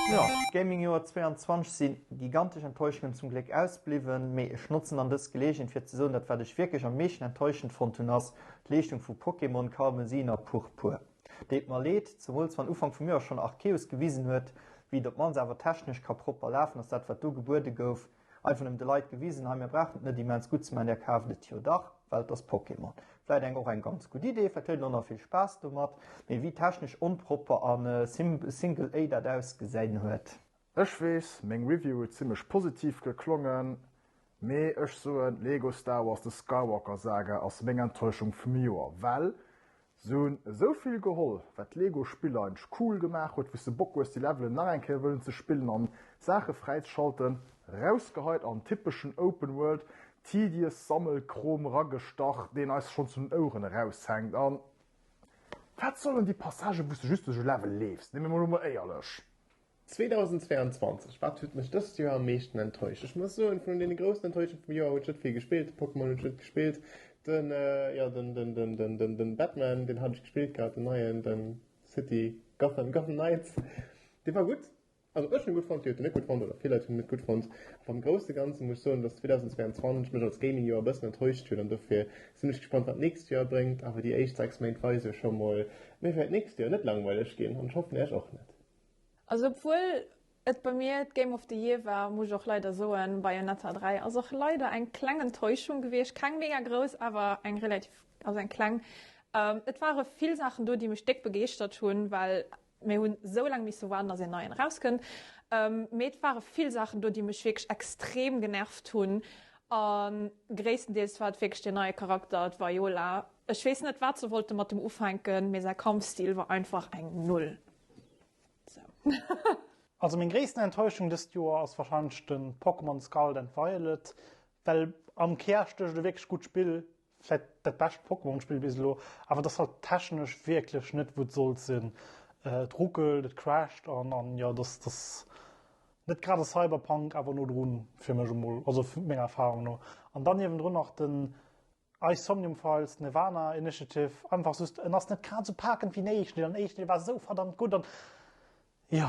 Jo, Gaming Joer 22 sinn gigantesch Enttäuschungen zum Gléck ausbliwwen, mee ech notzen dann dës Geleegenheet fir ze soen dat wat ech wierklech am meeschten enttäuschend fonnt hunn ass d'Leeschtung vu Pokémon Karmesin a Purpur. Deet mer leed, zemools wann Ufank vum Joer schonn Arceus gewisen huet wéi et op d'mannst awer technesch ka propper lafen ass dat wat do gebuede gouf, Einfach nëmmen de Leit gewisen, hei mir brauchen et net immens gutt ze man, där kaaft et jo dach, well et ass Pokémon. Vläit eng och eng ganz gutt Idee, vläit huet een och nach vill Spaass domat, mee wéi technesch onpropper a simple A dat ausgesäin huet. Ech weess, meng Review huet zimmlech positiv geklongen, mee ech soen, Lego Star Wars The Skywalker Saga ass meng Enttäuschung vum Joer, well Se hunn esou vill geholl, wat d'Lego Spiller eideg cool gemaach huet, wou s de Bock hues déi Levelen nach eng Kéier wëllen ze spillen an Saache fräizeschalten. Rausgeheit an typeschen Open World Tedious Sammelkrom ragestach, deen eis schonn zu den Oueren eraushänkt an wat sollen déi Passagen wou s de just duerch e Level leefs, nemme mer lo mol éierlech. 2022, Wat huet mech dëst Joer am meeschten enttäuscht? Ech muss soen, vun deene groussen Enttäuschung vum Joer huet ech net vill gespillt. De Pokémon hunn ech net gespillt. Den, jo, den, den, den, den, den, den Batman, deen hat ech gespillt gehat, den neien, den City Gotham, Gotham Knights. Dee war gutt. Also ech hunn e gutt fonnt, dir hutt en net gutt fonnt, oder vill Leit hunn en net gutt fonnt. Awer am Grousse Ganze muss ech soen, datt 2022 mech als Gaming-Joer e bëssen enttäuscht huet. An dofir sinn ech gespannt, wat d'nächst Joer bréngt. Awer déi éischt 6 Méint weise jo scho mol, mir wäert d'nächst Joer net langweileg ginn. An ech hoffen, Iech och net. Also obwuel et bei mir d'Game of the Year war, muss ech och leider soen, Bayonetta 3 ass och leider eng kleng Enttäuschung gewiescht. Keng mega grouss, awer eng relativ, also eng kleng. Et ware vill Saachen do, déi mech déck begeeschtert hunn, well mir hu sou laang misse waarden, datt een neien erauskënnt. Mee et ware vill Saachen do, déi mech wierklech extrem genervt hunn. A gréisstendeels war et wierklech deen neie Charakter, d'Viola. Ech weess net, wat se wollte mat dem ufänken, mee säi Kampfstil war einfach eng Null. Also meng gréissten Enttäuschung dëst Joer ass wahrscheinlech de Pokémon Scarlet and Violet, well am Kär stécht e wierklech gutt Spill, vläit dat bescht Pokémon Spill bis elo, awer et ass halt technesch wierklech net wou et sollt sinn. Et ruckelt, et crasht an an jo et ass ass net grad e Cyberpunk, awer no drun fir mech emol, also menger Erfahrung no. An dann niewendrun nach den Eis Somnium Files Nirvana Initiative einfach just en ass net grad sou paakend wéi den éischten Deel an den éischten Deel war sou verdammt gutt an jo.